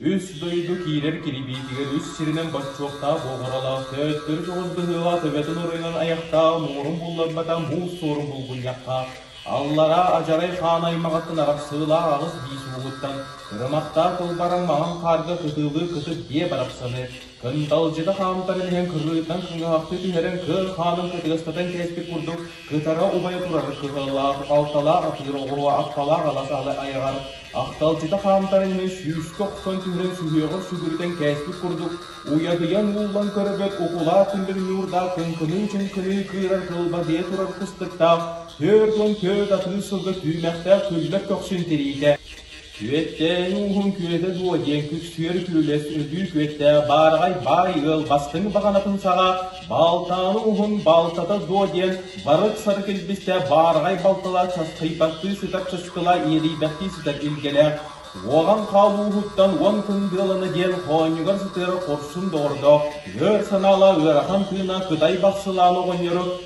Үс дойду киирэр кирибиитигэр үс сиринэн боччуоктаах оҕуруолаах төттөрү көҕүс быһыылаах төбөтүн оройунан айахтаах муҥурун булларбатах муус суорун булгунньахха аллараа адьарай хаан аймаҕыттан арахсыылаах аҕыс биис уугуттан кырымахтаах кылбаран маҥан хаарга кытыылыы кытыт биэ барахсаны Кынталдьыта хаамтаран иһэн кыһыытынан кыҥаһахтыы түһэрэн кыа хаанын кытыгастатан кээспит курдук кытара убайа турар кыһыылаах балталаах атыыр оҕуруо апталаах алас алы айаҕар ахталдьыта хаамтаран иһэн сүүскэ охсон түһэрэн сүһүөҕэр сүгүрүтэн кээспит курдук уйадыйан ууллан көрбөт укулаат түмбүт ньуурдаах кыҥкыныы-чыҥкыныы кыырар кылба дьиэ турар кыстыктаах түөрт уон түөрт атыыр сылга түүмэхтээх күллэр көхсүн тириитэ Күөттээн ууһун күөтэ дуо диэн күксүөр күлүлэс өлүү күөттээх баараҕай баай ыал бастыҥ баҕанатын саҕа балтааны уһун балтата дуо диэн барык-сары килбистэ баараҕай балтала часхыйбаттыы сытар чыскыла иэдийбэттии сытар илгэнэ уоҕан хаалууһуттан уон кындыалана диэн хоонньугар сытыар хорсун доҕордоох өр санаала ыарахан тыына кытай бахсылааны оҕонньору